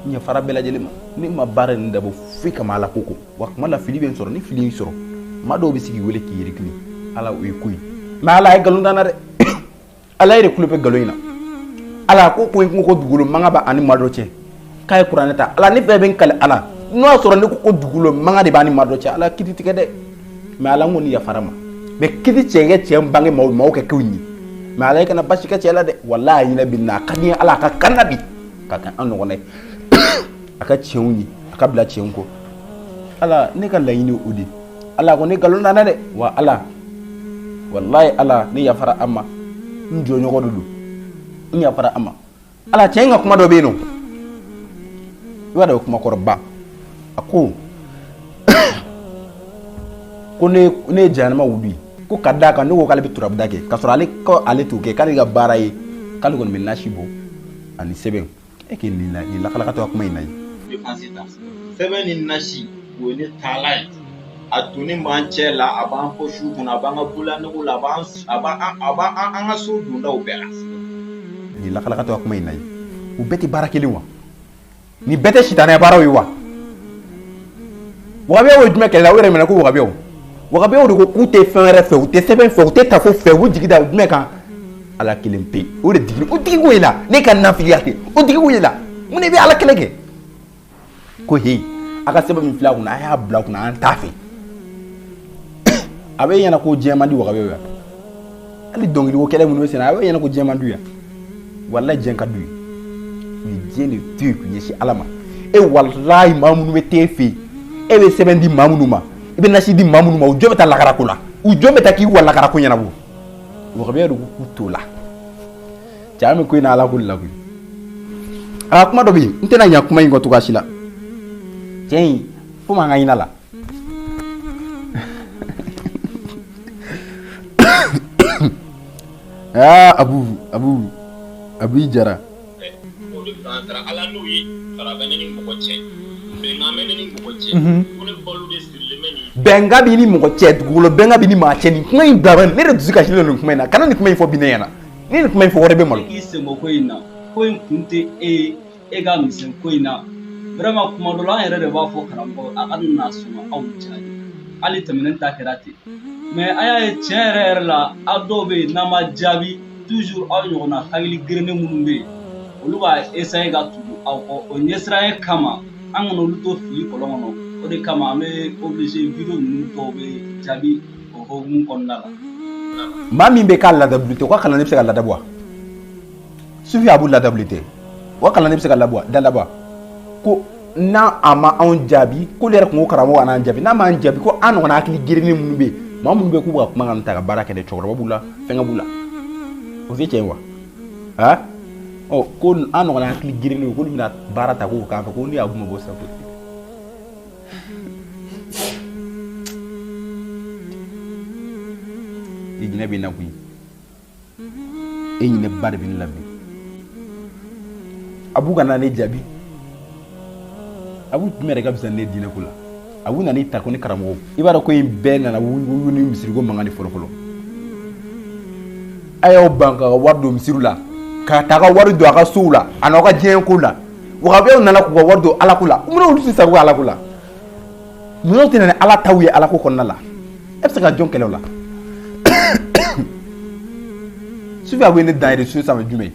n yafara bɛɛ lajɛlen ma ne ma baara nin dabɔ foyi kama ala ko kɔ wa kuma la fili bɛ n sɔrɔ ni fili y'i sɔrɔ maa dɔw bɛ se k'i wele k'i yiri kili ala o ye ko ye mais ala ye nkalon da n na dɛ ala yɛrɛ tulo bɛ nkalon in na ala ko ko n ko ko dugukolo mankan b'a ni maa dɔ cɛ k'a ye kuranɛ ta ala ne bɛɛ bɛ n kali ala n'o y'a sɔrɔ ne ko ko dugukolo mankan de b'a ni maa dɔ cɛ ala kiti tigɛ dɛ mais ala n kɔni yafara ma mais kiti tigɛ an cɛ n bange maaw maaw kɛ kew ɲi mais ala i kana basi kɛ cɛ la dɛ walayi a hinɛ bɛ n na a ka di n ye ala a ka kan na bi ka kɛ an ɲɔgɔn a ka tiɲɛw ye a ka bila tiɲɛ kɔ ala ne ka laɲini o de ala ko ne nkalon da n na dɛ wa ala walayi ala ne yafara a ma n jɔɲɔgɔn de don n yafara a ma ala cɛ in ka kuma dɔ bɛ yen nɔ i b'a dɔn kuma kɔrɔba a ko ko ne ye jahanama wulu ye ko ka da a kan ne ko k'ale bɛ turabuda kɛ k'a sɔrɔ ale ale t'o kɛ k'ale ka baara ye k'ale kɔni bɛ nasi bɔ ani sɛbɛn e k'i nin na nin lakalakatɔ kuma in na ye sɛbɛn ni nasi o ye ne taalan ye a donnen b'an cɛ la a b'an pɔsiw kɔnɔ a b'an ka bololanɛgɛw la a b'an a b'an a b'an an ka so dondaw bɛɛ la nin lakalakatɔ kuma in na ye u bɛɛ tɛ baara kelen wa nin bɛɛ tɛ sitanɛ baaraw ye wa wagabiyaw ye jumɛn kɛlɛ la o yɛrɛ minɛ ko wagabiyaw wagabiyaw de ko k'u tɛ fɛn wɛrɛ fɛ u tɛ sɛbɛn fɛ u tɛ tafo fɛ u jigi da jumɛn kan ala kelen pe o de digi o digi ko y'e la ne ka nafigiya tɛ o digi ko y'e la mun de bɛ ala kɛlɛ kɛ ko he a ka sɛbɛn min filɛ a kunna a y'a bila a kunna an t'a fɛ a b'e ɲɛna ko diɲɛ man di wagabiyaw ye hali dɔnkili ko kɛlɛ minnu bɛ senna a b'e ɲɛna ko diɲɛ man d'u ye walayi diɲɛ ka d'u ye u ye diɲɛ de to yen k'u ɲɛsin ala ma e walayi maa minnu bɛ t'e fɛ yen e bɛ sɛbɛn di maa minnu ma i bɛ nasi di maa minnu ma u jɔn bɛ taa lakara ko la u jɔn bɛ taa k'i wa lakara ko ɲɛnabɔ wagabiyaw de ko k'u t'o la cɛ an bɛ ko in na ala ko de la koyi a kuma dɔ bɛ yen n tɛna ɲina kuma in kɔ cogoya si la cɛ in fo maa k'a ɲin'a la Aa a abu jara bɛnkan b'e ni mɔgɔ cɛ dugukolo bɛnkan b'e ni maa cɛ nin kuma in dama ne dusu kasi nin kuma in na kana nin kuma in fɔ bi ne ɲɛna ni nin kuma in fɔ u yɛrɛ bɛ malo e ka misɛn ko in na vraiment kuma dɔ la an yɛrɛ de b'a fɔ karamɔgɔ a kana sɔn aw jaabi hali tɛmɛnen ta kɛra ten mais an y'a ye tiɲɛ yɛrɛ yɛrɛ la aw dɔw bɛ yen n'an ma jaabi toujours aw ɲɔgɔnna hakili gerennen minnu bɛ yen olu b'a essayer ka tugu aw kɔ o ɲɛsiranɲɛ kama an kana olu to fili kɔlɔn kɔnɔ o de kama an bɛ obligé video ninnu dɔw bɛ jaabi o hokumu kɔnɔna la maa min bɛ k'a ladabuli tɛ o ka kalan ne bɛ se ka ladabu wa sufi abu ladabuli tɛ o ka kalan ne bɛ se ka ladabu ko n'a a ma anw jaabi k'olu yɛrɛ tun ko karamɔgɔ kan'an jaabi n'a m'an jaabi ko an ɲɔgɔnna hakili gerennen minnu bɛ yen maa minnu bɛ k'u ka kuma kan ta ka baara kɛ dɛ cɛkɔrɔba b'u la fɛnkɛ b'u la o tɛ tiɲɛ wa aa ɔ ko an ɲɔgɔnna hakili gerennen k'olu bɛna baara ta k'u k'a fɛ ko ne y'abu ma bɔ sa ko i hinɛ bɛ n na koyi e hinɛ ba de bɛ ne la bi abu kana ne jaabi abu jumɛn yɛrɛ ka fisa ne diinɛ ko la abu nana i ta ko ne karamɔgɔ i b'a dɔn ko in bɛɛ nana wuli ni misiriko mankan de fɔlɔfɔlɔ a y'aw ban ka wari don misiriw la ka taa ka wari don a ka sow la a n'aw ka diɲɛ ko la wahabiyaw nana k'u ka wari don alako la mun na olu tɛ sago kɛ alako la Ninnu tɛ na ni Ala taw ye Ala ko kɔnɔna la, e bɛ se ka jɔn kɛlɛ o la? Sufi Abu, i ye ne dan ye reseau sanfɛ jumɛn?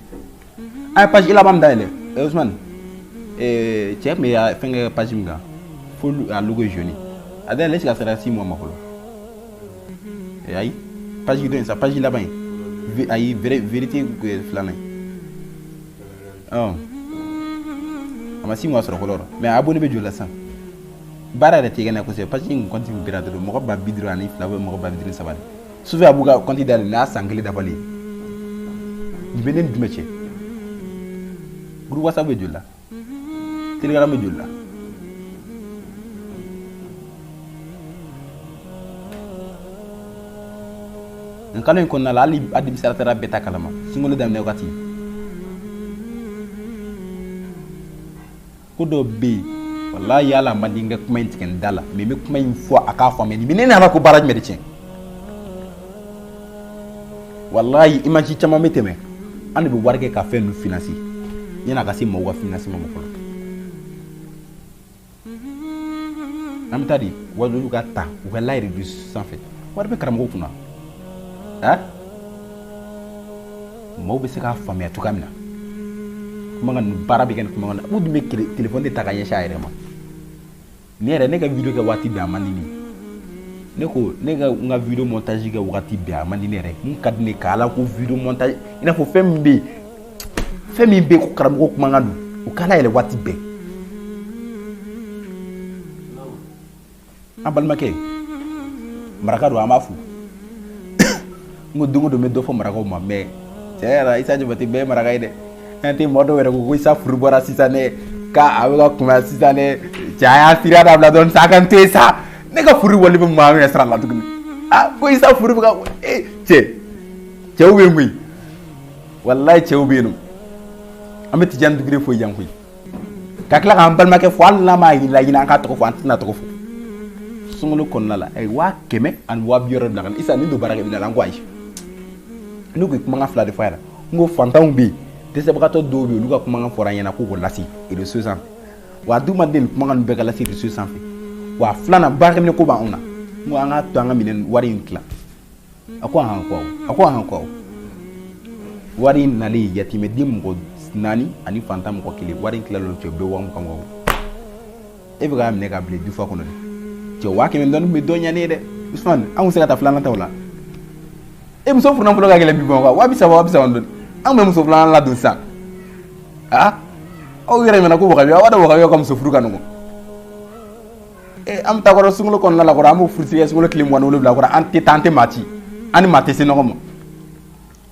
An ye page laban min da yɛlɛ, ɛ Usumani, ee cɛ tun bɛ fɛn kɛ page min kan, fo a logo ye jaune ye, a da yɛlɛ est ce que a sera six mois ma fɔlɔ? Ee ayi, page dɔ in sa, page laban in, ayi, verite filanan in. a ma sin ka sɔrɔ mɛ a bolo bɛ jɔ la sa baara yɛrɛ tɛ na kɔsɛbɛ pa que in kɔnti bɛ dɔrɔn mɔgɔ ba bidi ani fila bɛ mɔgɔ bad saba su a b'u kati da n'a san kelen dabali nin bɛ ne jumɛn cɛ wasa bɛ jla teri bɛ jla nin kalo in kɔnɔna la hali administrateur bɛɛ ta kalama sunkalo daminɛ wagati ko dɔ bɛ yen walayi yala a man di n ka kuma in tigɛ n da la mais n bɛ kuma in fɔ a k'a faamuya nin bɛ ne nana ko baara jumɛn de tiɲɛ walayi image caman bɛ tɛmɛ an de bɛ wari kɛ ka fɛn ninnu financer yanni a ka se mɔgɔw ka finansi ma fɔlɔ an bɛ taa di walilu ka ta walayi reseau sanfɛ wari bɛ karamɔgɔ kunna a maaw bɛ se k'a faamuya cogoya min na kuma baara bɛ kɛ ni kuma na u dun bɛ telefɔni de ta ka ɲɛsin a yɛrɛ ma ne yɛrɛ ne ka video kɛ waati bɛɛ a man di ne ne ko ne ka n ka video montage kɛ waati bɛɛ a man di ne yɛrɛ mun ka di ne ka ala ko video montage i n'a fɔ fɛn min bɛ yen fɛn min bɛ ko karamɔgɔ kumakan don u kana yɛlɛ waati bɛɛ an balimakɛ maraka don an b'a fo n ko don o don n bɛ dɔ fɔ marakaw ma mɛ tiɲɛ yɛrɛ la isa jabate bɛɛ ye maraka ye dɛ an tɛ mɔgɔ dɔw yɛrɛ ko ko isa furu bɔra sisan dɛ k'a a bɛ ka kunbaya sisan dɛ cɛ a y'a sira dabila dɔɔni sa a ka n to yen sa ne ka furu wali bɛ maa min yɛrɛ sira la tuguni ah ko isa furu bɛ ka ee cɛ cɛw bɛ yen koyi walayi cɛw bɛ yen nɔ an bɛ tijani dugure fo yan koyi ka tila k'an balimakɛ fo hali n'a m'a yirila ɲinɛ an k'a tɔgɔ fɔ an tɛna tɔgɔ fɔ sunkalo kɔnɔna la a ye waa kɛmɛ ani waa bi wɔɔrɔ bila ka na isa ni don baarakɛ bi la an ko ayi ne ko ye kumakan fila de fɔ a ɲɛna n ko fantanw bɛ yen dɛsɛbagatɔ dɔw bɛ yen olu ka kumakan fɔra an ɲɛna k'u k'o lase reseau sanfɛ wa an dun ma deli kumakan ninnu bɛɛ ka lase reseau sanfɛ wa filanan baarakɛminɛn ko b'anw na n ko an k'a to an ka minɛn wari in tilan a ko ahan ko a ko ahan ko wari in nalen yatimɛden mɔgɔ naani ani fantan mɔgɔ kelen wari in tilal'o cɛ bɛɛ waa mugan mugan e bɛ k'a minɛ k'a bila dufa kɔnɔ de cɛ waa kɛmɛ dɔɔni bɛ dɔ ɲɛ ne ye dɛ usumani an tun se ka taa filanan ta o la e muso furu nafolo ka gɛlɛn bi bɔn waa bi saba waa bi saba dɔɔni an bɛ muso filanan ladon sisan aa aw yɛrɛ ɲɛna ko wagabiya aw b'a dɔn wagabiya ka muso furu ka nɔgɔn an ta kɛra sunkalo kɔnɔna la an b' furusiri sunkalo tile m wolowula kɔrɔ an tɛ tan tɛ maati an ni maa tɛ se ɲɔgɔn ma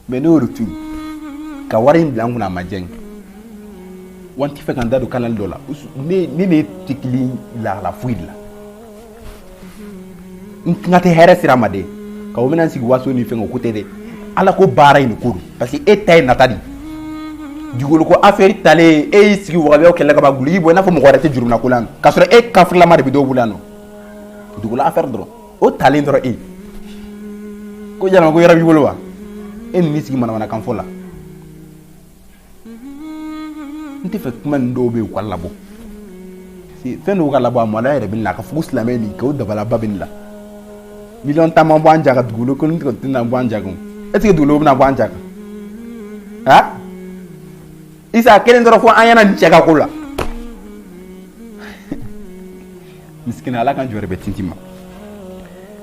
mɛ n'o tun ka wari in bila an kun an ma jɛn an tɛ fɛ k'an da don kanalen dɔ la ne de tɛ kelen lala foyi la n tɛna tɛ hɛrɛ sira ma de ka bɛna sigi waso ni fɛn ko tɛ dɛ ala ko baara in ko parce que e ta ye nata de dugukolo ko affaire talen e y'i sigi wagabiyaw kɛlɛ kaba guligi bɔ i n'a fɔ mɔgɔ wɛrɛ tɛ juruna ko la k'a sɔrɔ e kafirilama de bɛ dɔw bolo yan nɔ dugukolo affaire dɔrɔn o talen dɔrɔn e ko jahanama ko yɔrɔ b'i bolo wa e n'i sigi manamanakan fɔ la n tɛ fɛ kuma nin dɔw bɛ yen u ka labɔ fɛn dɔw ka labɔ a mɔla yɛrɛ bɛ na k'a fɔ ko silamɛ nin k'o dabalaba bɛ nin la million tan ma bɔ an jaka dugukolo ko tɛna bɔ an jaka est-ce que dugukolo bɛna bɔ an jaka isa kelen dɔrɔn fɔ an ɲɛna nin cɛ ka ko la misikina ala ka jɔyɔrɔ bɛ tinti ma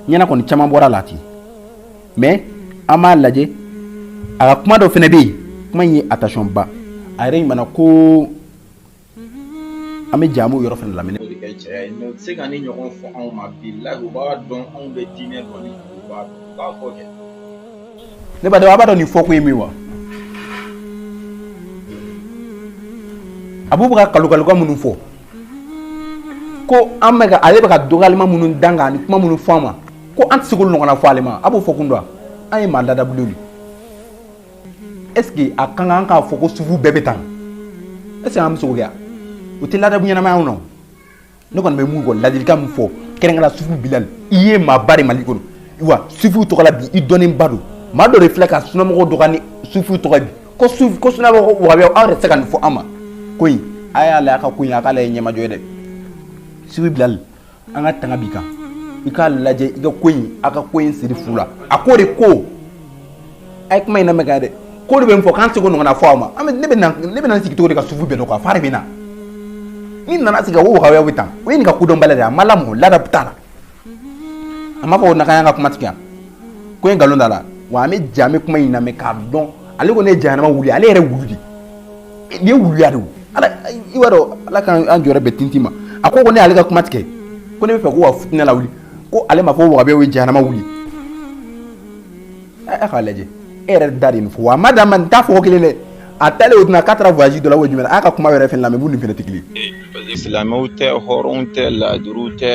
ɲɛna kɔni caman bɔra la ten mɛ an b'a lajɛ a ka kuma dɔ fana bɛ yen kuma in ye attention ba a yɛrɛ ɲumanna ko An bɛ jamu yɔrɔ fana lamɛn se ka nin ɲɔgɔn fɔ anw ma bilayi b'a dɔn anw bɛ diinɛ dɔn ne ba a b'a dɔn nin fɔ ko ye min wa a b'u bɛ ka kalifaluka minnu fɔ ko an bɛka ale bɛ ka dɔgɔlima minnu dan kan ni kuma minnu fɔ ma ko an tɛ ɲɔgɔn fɔ ale ma a b'o fɔ kun dɔn an ye maa ladabu est ce que a ka kan k'a fɔ ko sufu bɛɛ bɛ tan est ce que an muso kɛ u tɛ ladabu ɲɛnamaya non ne kɔni bɛ mun kɔ ladilikan min fɔ kɛrɛnkɛla sufu bilali i ye maaba de mali kɔnɔ wa sufuw tɔgɔla bi i dɔnnenba don maa dɔ de filɛ ka sunamɔgɔw dɔgɔya ni sufuw tɔgɔ bi ko su ko sunamɔgɔ wahabiya aw yɛrɛ tɛ se ka nin fɔ a ma ko in a y'a lajɛ a ka ko in a k'a lajɛ ɲɛmajɔ ye dɛ sufu bilali an ka tanga b'i kan i k'a lajɛ i ka ko in a ka ko in siri fu la a ko de ko a ye kuma in lamɛn ka dɛ ko de bɛ n fɔ k'an se k'o ɲɔgɔnna fɔ a ma an bɛ ne bɛ na ne bɛ na n sigi cogo di ka sufu bɛɛ dɔn quoi fari bɛ na n'i nana sigi k'a fɔ wahabiyaw bɛ tan o ye nin ka kodɔnbaliya de ye a ma lamɔ ladabu t'a la a ma fɔ ko nakanya ka kuma tigɛ yan ko in nkalon t'a la wa an bɛ ja an bɛ kuma in lamɛn k'a dɔn ale ko ne ye jahanama wulu ale yɛrɛ wulu de Ni wuluya don i b'a dɔn ala ka an jɔ bɛ tti ma a ko ko ne y'ale ka kuma tigɛ ko ne bɛ fɛ ko ka fitinɛ lawuli ko ale ma fɔ wahabiya ye jahanama wulu a k'a lajɛ e yɛrɛ da de fɔ a ma dan ma n da fɔ kelen dɛ a taa o tɛna k'a taara voyage dɔ la o jumɛn a ka kuma yɛrɛ fɛ la b'u ni fɛnɛrɛtigi silamɛw tɛ hɔrɔn tɛ laadiri tɛ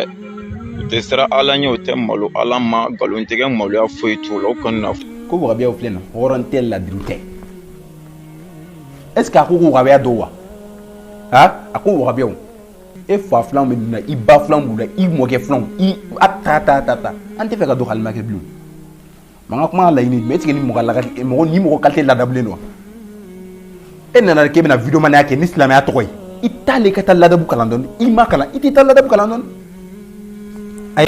u tɛ siran ala ɲɛ u tɛ malo ala ma nkalontigɛ maloya foyi t'u la o kɔnɔ ko wahabiyaw filɛ na hɔrɔn tɛ laadiri tɛ est ce que a ko ko wahabiya dɔw wa ha a ko wahabiyaw e fa filanw bɛ nin na i ba filanw b'u la i mɔkɛ filanw i a ta ta ta ta an tɛ fɛ ka don halima kɛ bilen manga kuma ka laɲini mais est ce que ni mɔgɔ laga mɔgɔ ni mɔgɔ qualité ladabulen don wa e nana k'e bɛna vidéo manaya kɛ ni silamɛya tɔgɔ ye i t'a lajɛ ka taa ladabu kalan dɔɔni i ma kalan i t'i taa ladabu kalan dɔɔni ayi